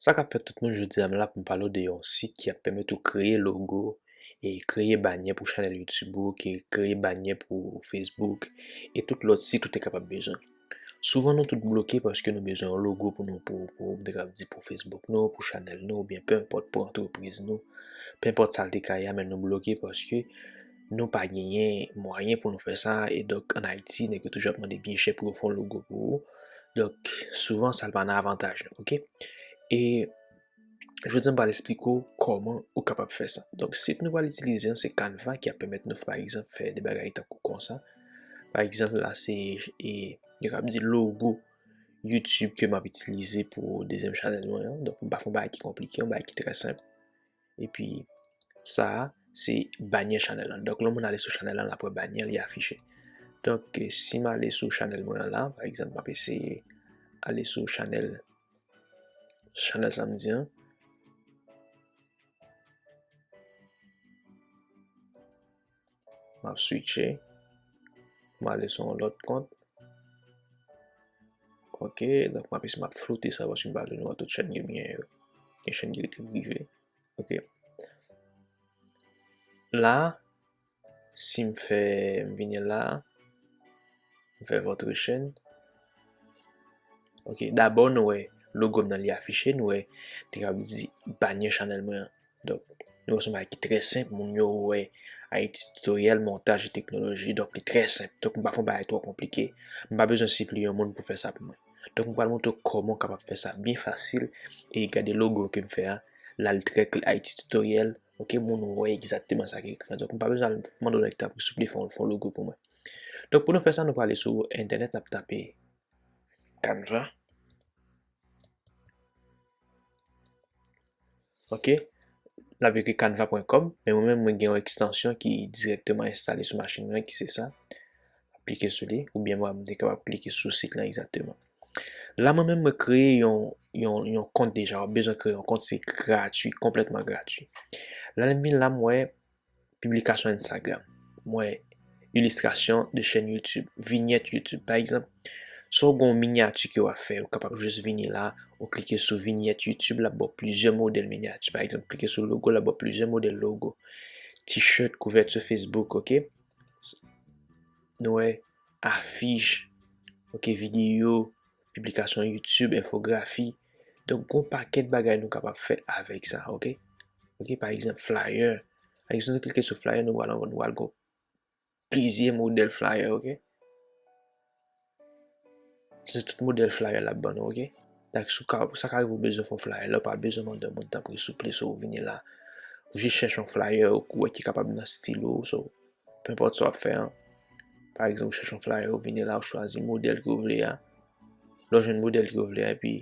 Sa kap fèt tout moun jodia m la pou m pale w de yon sit ki ap pèmèt ou kreye logo e kreye banyè pou chanèl youtube ou, kreye banyè pou facebook e tout lòt sit ou te kapab bezwen. Souvan nou tout bloke paske nou bezwen yon logo pou nou pou pou m te kab di pou Facebook nou, pou chanèl nou oubyen pe enpòt pou antrepriz nou, pe enpòt sa l te ka ye a men nou bloke paske nou pa genyen mwayen pou nou fè sa e donk an Ayiti nèg yo toujou ap mande byen chè pou yo fè yon logo pou ou donk souvan sa l pa nan avantaj nou ok e Jodi a m pral esplike w kòman ou kapab fè sa. Donk sit nou pral itilize an se Canva ki ap pèmèt nou pa egzanp fè de bagay tankou konsa. Pa egzanp la se e yo kab di logo YouTube ke m ap itilize pou dezyèm chanèl mwen an. Donk m pa fè yon bagay ki konplike, yon bagay ki trè senp. Epi sa a se banyè chanèl lan. Donk lè yon moun ale sou chanèl lan l ap wè banyè li afiche. Donk si m ale sou chanèl mwen an la, pa egzanp m ap eseye ale sou chanèl Chanel sa m di an. Map switche. M ale sou yon lòt kont. Ok, donk map ese map floute sa paske m pa vle nou wè tout chèn yo byen yo. Gen chèn ki rete prive. Ok. La, Si m fè m vini la a. M fè votre chaîne. Ok dabò nou wè logo m nan li afiche nou wè te kab di banyè chanèl mwen an. Donk nou wè s on bagay ki trè senp moun yo wè Haïti Tutoriel montaj e teknoloji donk li trè senp donk m pa fè yon bagay twò konplike m pa bezwen sipliye yon moun pou fè sa pou mwen. Donk m pral montre w kòman w kapab fè sa byen fasil e gade logo ke m fè a la li trè klè Haïti Tutoriel. Ok moun ou wè egzakteman sa ki ekri an. Donk nou pa bezwen al mande yon nèg tanpri souple fè yon logo pou mwen. Donk pou nou fè sa nou prale sou entènèt nap tape Canva. Ok nap ekri canva.com men mwen menm mwen gen yon ekstansyon ki dirèkteman enstale sou machin mwen ki se sa. Klike sou li oubyen mwen menm mte kapab klike sou sit lan egzakteman. La mwen menm mwen kreye yon yon yon kont deja wap bezwen kreye yon kont se gratuit konplètman gratuit la lèm vin la m wè piblikasyon enstagram m wè ilistrasyon de chèn youtube vinyèt youtube pa egzanp sa w gon minyati ke wap fè ou kapab jis vini la ou klike sou vinyèt youtube lap baw plizyè modèl minyati pa egzanp klike sou logo lap baw plizyè modèl logo tishèt kouvèti facebook ok nou wè afich, ok videyo, piblikasyon youtube, enfografi, donk gon pakèt bagay nou kapab fè avèk sa ok, ok pa egzanp flyer, pa egzanp nou klike sou flyer nou wala nou wala gon plizyè modèl flyer ok. Se tout modèl flyer lap ban nou ok. Dak sou ka sa ka rive ou bezwen fè yon flyer lè ou pa bezwen mande moun tanpri souple so vini la. Ou jis chèche yon flyer ou wè ki kapab nan stil ou so. Penpòt sa w ap fè an, pa egzanp ou chèche yon flyer ou vini la ou chwazi modèl ke w vle a, lè w jwenn modèl ke w vle a epi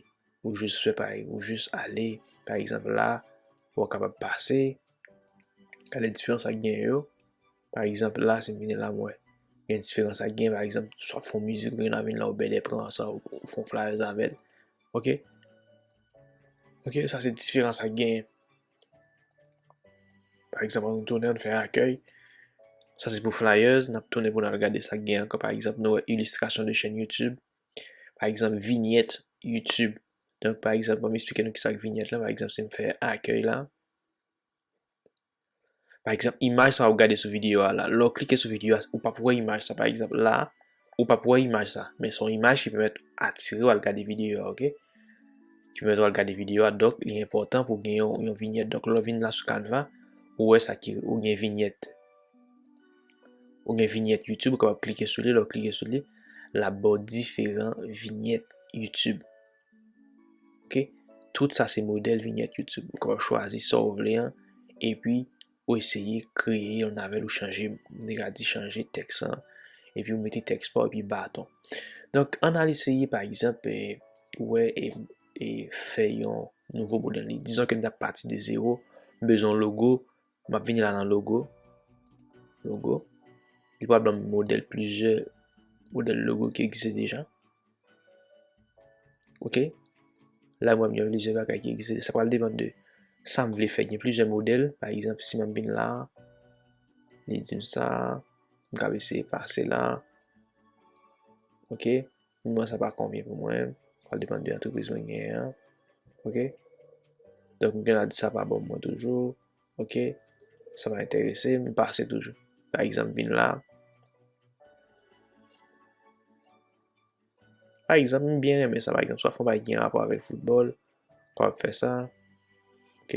ou jis fè pa ou jis ale pa egzanp la ou kapab pase gade diferans sa gen yo pa egzanp la si m vini la m wè gen diferans sa gen pa egzanp swa fon mizik ou gen avèn la ou bèdè pran sa ou fon flyers avèl ok ok sa se diferans sa gen. Par egzanp, an nou tounen an nou fè akèy. Sa se pou flyers, n ap tounen pou n al gade sa k gen ankò. Par egzanp, nou wè ilistrasyon de chèn YouTube. Par egzanp, vinyèt YouTube. Donk, par egzanp, ban m esplike nou ki sa k vinyèt la. Par egzanp, si m fè akèy la. Par egzanp, imaj sa ou gade sou videyo a la. Lè ou klike sou videyo a, ou p ap wè imaj sa. Par egzanp, la. Ou pap wè imaj sa, men son imaj ki pèmèt atire w al gade videyo a ok. Ki pèmèt ou al gade videyo a, donk li enpòtan pou gen yon vinyèt. Donk lè w vin la sou Canva, ou wè sa ki ou gen vinyèt. Ou gen vinyèt YouTube, ou kapab klike sou li, lè w klike sou li, lap ba w diferan vinyèt YouTube. Ok, tout sa se modèl vinyèt YouTube. Ou kapab chwazi sa ou vle an, epi Ou eseye kreye yon navel ou chanje mwen te ka di chanje teks lan epi ou mete teks pa ou epi baton donk an al eseye pa egzanp ou wè e fè yon nouvo modèl li dizon ke m ta pati de zewo m bezwen yon logo m ap vini la nan logo logo li pral banm modèl plizyè modèl logo ki egziste deja. Ok, la mwen mwen plize bagay ki egzise, sa pral depan de sa m vle fè, gen plize model, pa egzamp si mwen bin la, li di m sa, m ka vese pase la, ok, mwen sa pa konvye pou mwen, sa pral depan de antrepise mwen gen an, ok, donk mwen gen la di sa pa bon mwen toujou, ok, sa pa enterese, m pase toujou, pa egzamp bin la. Pa egzanp, m byen renmen sa pa egzanp, swa fon bagay ki gen rapò avèk foutbòl, kòw ap fè sa, ok,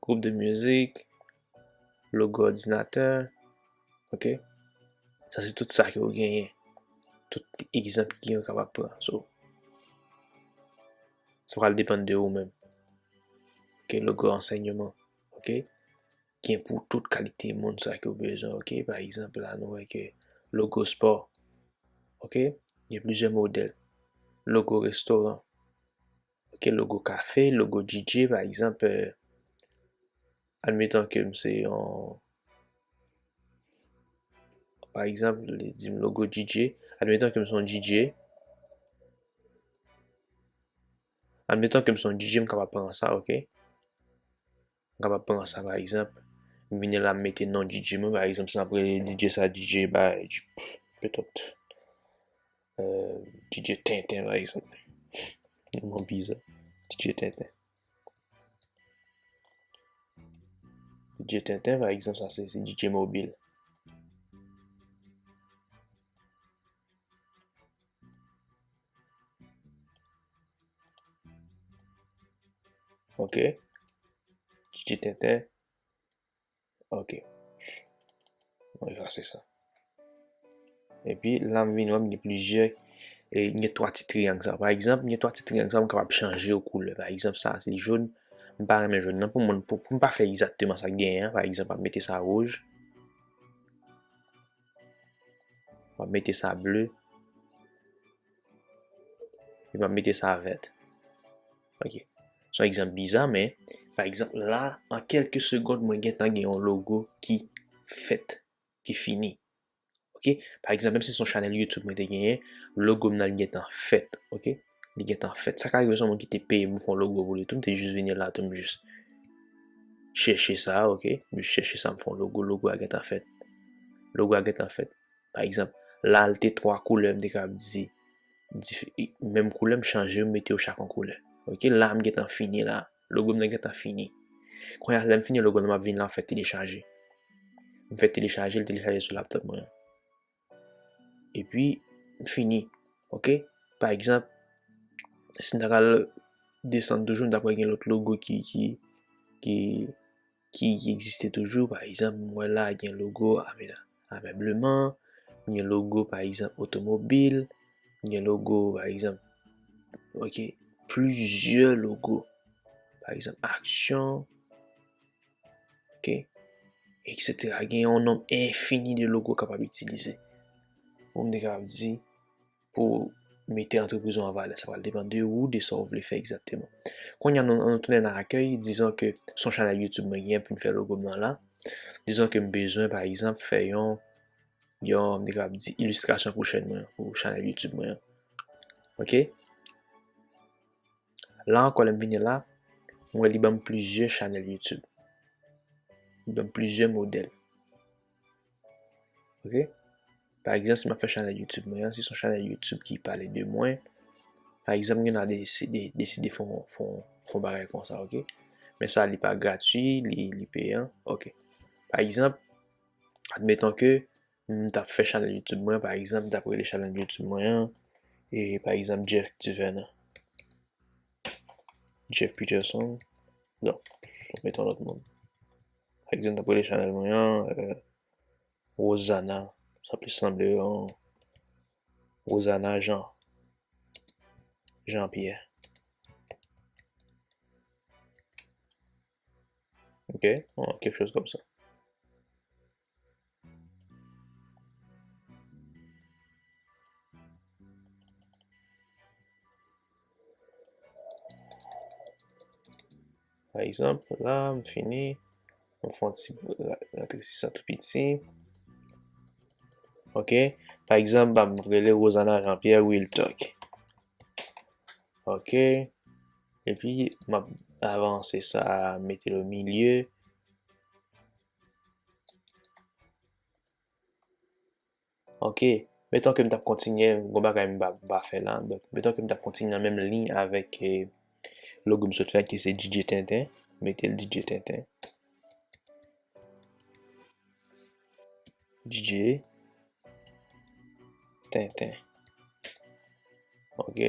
gwoup de mizik, logo òdinatè, ok, sa se tout sa ke ou genyen, tout egzanp ki genyen ou kapab pran, so, sa pral depann de ou menm, ok, logo ansèyman, ok. gen pou tout kalite moun sa ke ou bezwen ok pa egzanp la nou wè ke logo spò ok gen plizyè modèl logo restoran ok logo kafe logo DJ pa egzanp admetan kem se yon pa egzanp li dim logo DJ admetan kem son DJ admetan kem son DJ m kapab pran sa ok M kapab pran sa pa egzanp, m vini la m mete non DJ mwen pa egzanp si m ap rele DJ sa DJ bay petèt DJ tenten pa egzanp yon non biza DJ tenten DJ tenten pa egzanp sa se DJ mobil Ok. Titi tenten. Ok. Mwen efase sa. E pi la m vin wè m gen plizyè e gen 3 ti triyang sa. Pa egzanp, gen 3 ti triyang sa m kapab chanje yo koulè. Pa egzanp sa se joun, m pa renmen joun nan pou mwen pou m pa fè egzakteman sa k genyen an. Pa egzanp m ap mete sa wouj. M ap mete sa ble. E m ap mete sa vèt. Ok. Son egzanp biza men, pa egzanp la, an kelke segond mwen gen tan gen yon logo ki fèt, ki fini. Ok. Pa egzanp menm si son chanèl YouTube mwen te genyen, logo m nan li gen tan fèt. Ok. li gentan fèt. Sa ka rive son moun ki te peye m pou fè yon logo pou li tou, m te jis vini la tou m jis chèche sa, ok, m jis chèche sa m fè yon logo, logo a gentan fèt. Logo a gentan fèt. Pa egzanp, la li te 3 koulè, m te kapab di menm koulè m chanje yo m mete yo chak yon koulè. Ok, la m gentan fini la, logo m nan gentan fini. Kounye a lè m fini logo m nan m ap vin la m ap fè telechaje. M fè telechaje, li telechaje sou laptop mwen an. E pi fini. Ok. Pa egzanp, si m ta pral desann toujou, m ta pral gen lòt logo ki, ki, ki, ki egziste toujou. Pa egzanp, m wè la gen logo Ame, Amèbleman. Gen logo pa egzanp Otomobil. Gen logo pa egzanp, ok, plizyè logo. Pa egzanp, Aksyon. Ok. Etc. Gen yon nom infini de logo kapab itilize. Ou mde kapab di pou mete antrepriz ou an valè. Sa pral depan de ou, de sa ou vle fè egzakteman. Konye an nou tounen nan akèy. Dizon ke son chanèl YouTube mwen gen pou m fè logo m nan la. Dizon ke m bezwen pa egzanp fè yon, yon mde kapab di ilistrasyon pou chèn mwen, pou chanèl YouTube mwen an. Ok. La ankò lèm vini la, m wè li banm plizyè chanèl YouTube. Li banm plizyè modèl. Ok? Pa egzanp si m ap fè chanèl YouTube mwen an, si son chanèl YouTube ki pale de mwen, pa egzanp gen nan deside deside fon fon fon bagay konsa ok. Men sa li pa gratui, li li peyan ok. Pa egzanp, admeton ke M tap fè chanèl youtube mwen pa egzanp m tap rele chanèl youtube mwen an pa egzanp Jeff Duvernand Jeff Peterson non m met yon lòt moun pa egzanp m tap rele chanèl mwen an Rosana sa plis sanble yon Rosana Jean Jean Pierre ok kèk choz kòm sa. Pa egzanp la m fini m fon ti rete si sa tou piti ok pa egzanp m rele Rosanna Jean Pierre Wiltock ok epi m ap avanse sa mete l o milye Ok, metan ke m tap kontinye, gwo bagay m pa fè la, metan ke m tap kontinye nan menm liy avèk e logo m sot fè ki se DJ Tenten, mete l DJ Tenten. DJ Tenten. Ok.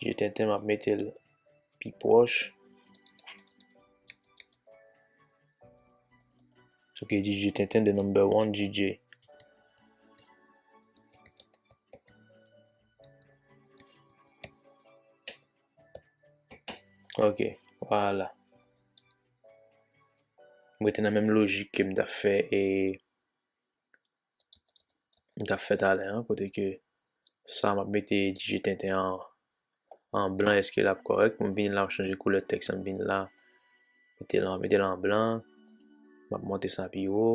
Je tenten map metel pi pwòch. Ok DJ tenten de number one DJ. Ok, wala. Mwen te nan menm lojik ke m ta fè e m tap fè talè an kote ke sa map mete dije tenten an an blan eske lap kòrèk m vini la m chanje koulè tèks la m vini la m mete l an blan map monte sa pi wo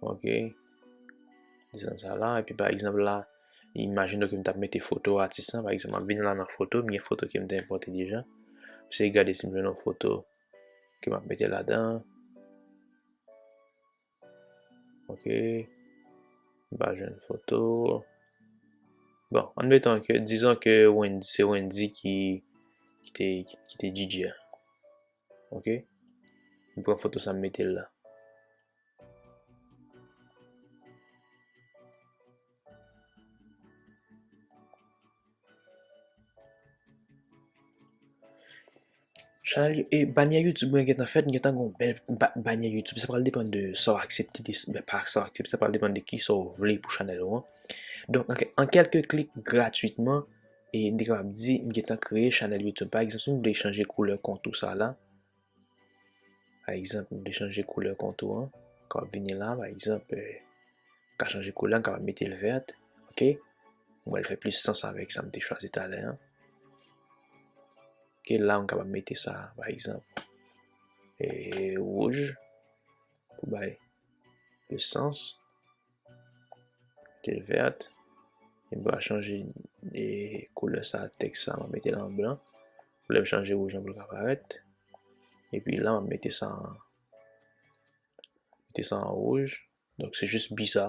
Ok. Desen sa la. Epi pa egzanp la, imajin nou ke m tap mete foto atis la. Pa egzanp, m ap vin la nan foto. M gen foto ke m te enpote deja. M se gade si m jwenn yon foto ke m ap mete la dan. Ok. M pa jwenn foto. Bon, an metan ke, dizon ke se Wendy ki te DJ a. Ok. M pran foto sa m mete l la. Chanèl yo, e banyè YouTube mwen gentan fèt, m gentan gen yon bèl banyè YouTube. Sa pral depann de sa w aksepte, de pa sa w aksepte, sa pral depann de ki sa w vle pou chanèl ou an. Donk, an kèlke klik gratwitman, E depi lè map di m gentan kreye chanèl youtube pa egzanp si m vle chanje koulè kont ou sa la pa egzanp m vle chanje koulè kont ou an kap vini la pa egzanp m ka chanje koulè an m kapab mete l vèt ok m wè l fè plis sans avèk sa m te chwazi talè an ok la m kapab mete sa pa egzanp e wouj pou bay plis sans Metel vert. Mwen pa chanje e koulè sa tèks sa mwen metel an blan. Koulè m chanje rouj lan pou l ka parèt. Epi la mwen mete sa an mete sa an rouj. Donk se jis bi sa.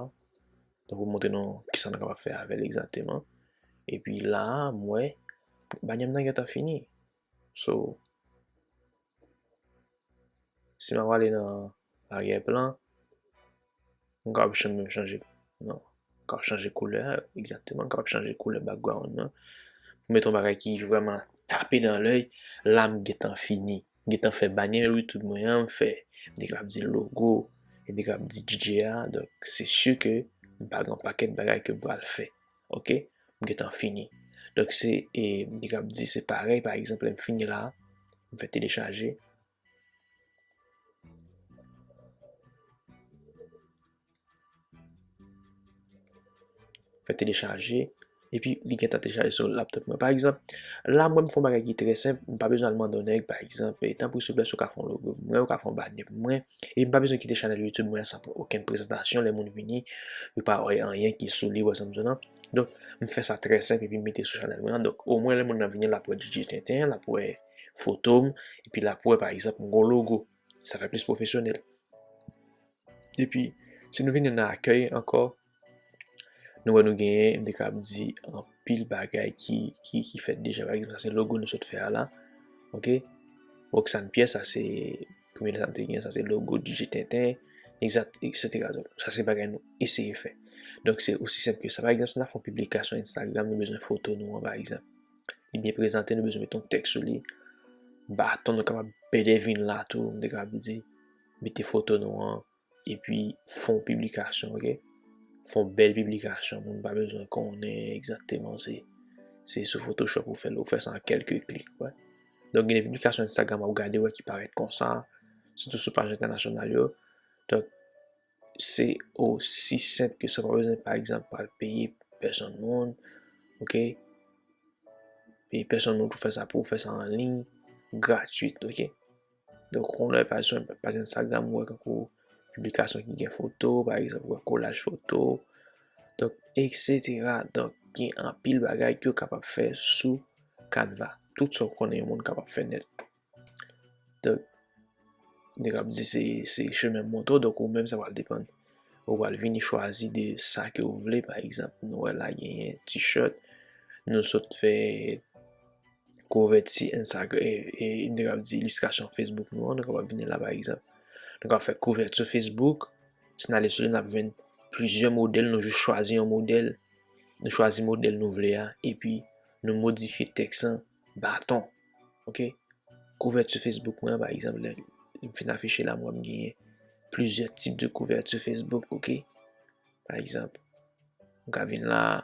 Donk pou montre nou kisa nou kapab fè avèl egzakteman. Epi la mwen banyè m nan gentan fini. So. Si mwen wale nan aryè plan, mwen kap chan mwen chanje, non, kap chanje koulè, egzakteman, kap chanje koulè background nan, pou mete yon bagay ki vreman tape dan lèy, la m gentan fini, m gentan fè banyè YouTube mwen an, m fè, m te kab di logo, m te kab di DJ a, donk se si ke m pa gen yon pakèt bagay ke m pral fè. ok m gentan fini donk se e m te kab di se parèy pa egzanp lè m fini la m fè telechaje fè telechaje epi li gentan telechaje sou laptop mwen pa egzanp la mwen m fè yon bagay ki trè senp m pa bezwen al mande yon nèg pa egzanp e tanpri souple si w ka fè yon logo pou mwen ou ka fè yon banè pou mwen E m pa bezwen kite chanèl youtube mwen an san pran okenn prezantasyon lè moun vini yo pa wè anyen ki sou li wè sa m di w nan donk m fè sa trè senp epi m mete sou chanèl mwen an donk omwen lè moun nan vini l ap wè djidje tenten l ap wè foto m epi l ap wè pa egzanp m gen yon logo sa fè plis pwofesyonèl epi si nou vini nan akèy ankò Nou wè nou genyen, m te ka ap di anpil bagay ki fèt deja. Pa egzanp, sa se logo nou sot fè a la. Ok. Roxane Pierre, sa se premye lèt a m te genyen. Sa se logo DJ Tenten, egzat, eksetera. Donk, sa se bagay nou eseye fè. Donk, se osi senp ke sa. Pa egzanp, si n ap fè yon piblikasyon Instagram, nou bezwen foto nou an, pa egzanp. Li byen prezante, nou bezwen mete yon tèks sou li. Baton nou kapab bèdè vin la tou, m te ka ap di. Mete foto nou an. Epi fon piblikasyon ok. Fon bèl piblikasyon moun pa bezwen konnen egzakteman se se sou photoshop ou fèl ou fè sa an kèlke klik wè. Donk gen de piblikasyon Instagram wap gade wè ki parèt konsa sitou sou paj entènasyonal yo. Donk se osi senp ke sa ou pa bezwen pa egzanp pral peye pèsonn moun ok. Peye pèsonn moun pou fè sa pou ou fè sa anliy gratwit ok. Donk yon lè pa jwenn pa jwenn Instagram ou wè tankou piblikasyon ki gen foto pa egzanp ou wè kolaj foto donk eksetera donk gen anpil bagay ke w kapab fè sou Canva tout sa w konnen yon moun kapab fè nèt donk nèg ap di se se chemen moto donk ou menm sa pral depann ou pral vini chwazi de sa ke w vle pa egzanp nou wè la genyen t-shirt nou sot fè Kouvèti Instagram e nou te kab di ilistrasyon Facebook nou an, nou kapab vini la pa egzanp. Nou ka fè kouvèti sou Facebook, si nou ale sou li nap jwenn plizyè modèl, nou jis chwazi yon modèl, nou chwazi modèl nou vle a, epi nou modifye tèks lan baton. Ok, kouvèti sou Facebook mwen an pa egzanp lè m fin afiche la m wè m genyen plizyè tip de kouvèti sou Facebook ok. Pa egzanp, m ka vin la a.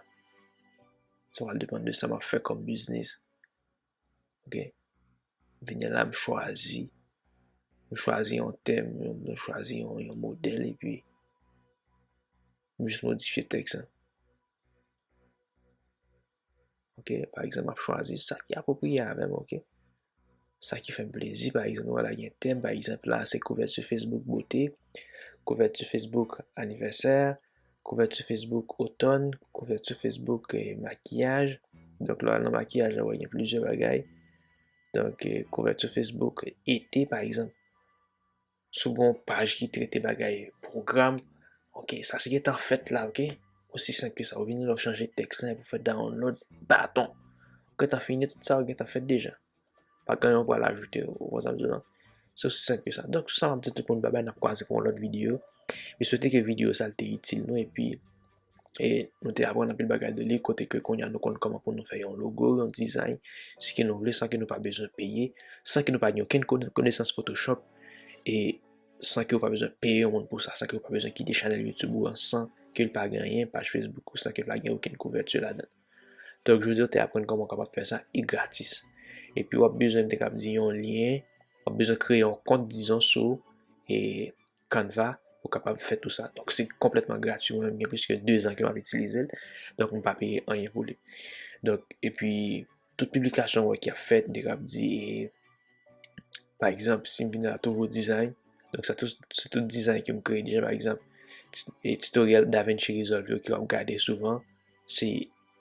Sa pral depann de sa map fè kòm biznis. Ok. Vini la m chwazi. M chwazi yon tèm, m chwazi yon modèl epi m jis modifye tèks lan. Ok, pa egzanp map chwazi sa ki apwopriye avèm ok. Sa ki fè m plezi pa egzanp nou wè la gen tèm pa egzanp la se kouvèti Facebook bote, kouvèti Facebook anivèsè, kouvèti Facebook otòn, kouvèti Facebook makiyaj, donk lè w al nan makiyaj la wè gen plizyè bagay, donk kouvèti Facebook ete pa egzanp. Sou gon paj ki trete bagay pwogram ok sa se gentan fèt la ok osi senp ke sa ou vini la ou chanje tèks lan epi ou fè download baton ou gentan fini tout sa ou gentan fèt deja pa gen anyen ou pral ajoute ou konn sa map di la se osi senp ke sa donk sou sa map di tout moun babay nap kwaze pou yon lòt videyo mwen swete ke videyo sa te itil nou epi e nou te aprann anpil bagay de li kote ke kounye a nou konn kòman pou nou fè yon logo, yon dizay, si ke nou vle san ke nou pa bezwen peye, san ke nou pa gen okenn konesans photoshop e san ke ou pa bezwen peye yon moun pou sa, san ke ou pa bezwen kite chanèl YouTube ou an san ke li pa gen anyen, paj Facebook ou san ke li pa gen okenn kouvèti ladan. Donk jodi ou te aprann kòman ou kapab fè sa e gratis. E pi wap bezwen m te kab di yon lyen, wap bezwen kreye yon kont dizon sou e Canva ou kapab fè tou sa. Donk se konplètman grati mwen menm gen plis ke 2 zan ke map itilize l. Donk m pa peye anyen pou li. Donk epi tout piblikasyon ou wè ki ap fèt de kap di e pa egzanp si m vin nan touvo dizay donk sa tout se tout dizay ke m kreye deja pa egzanp e titoryèl Davinci Resolve yo ke wap gade souvan se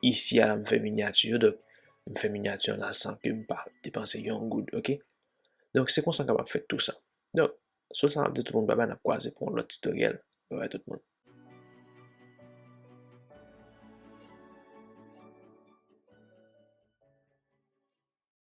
isi a la m fè minyati yo donk m fè minyati an la san ke m pa depanse yon goud ok. Donk se konsa m kapab fè tou sa. Donk Sou sa map di tout moun babay nap kwaze pou yon lòt titoryèl babay tout moun.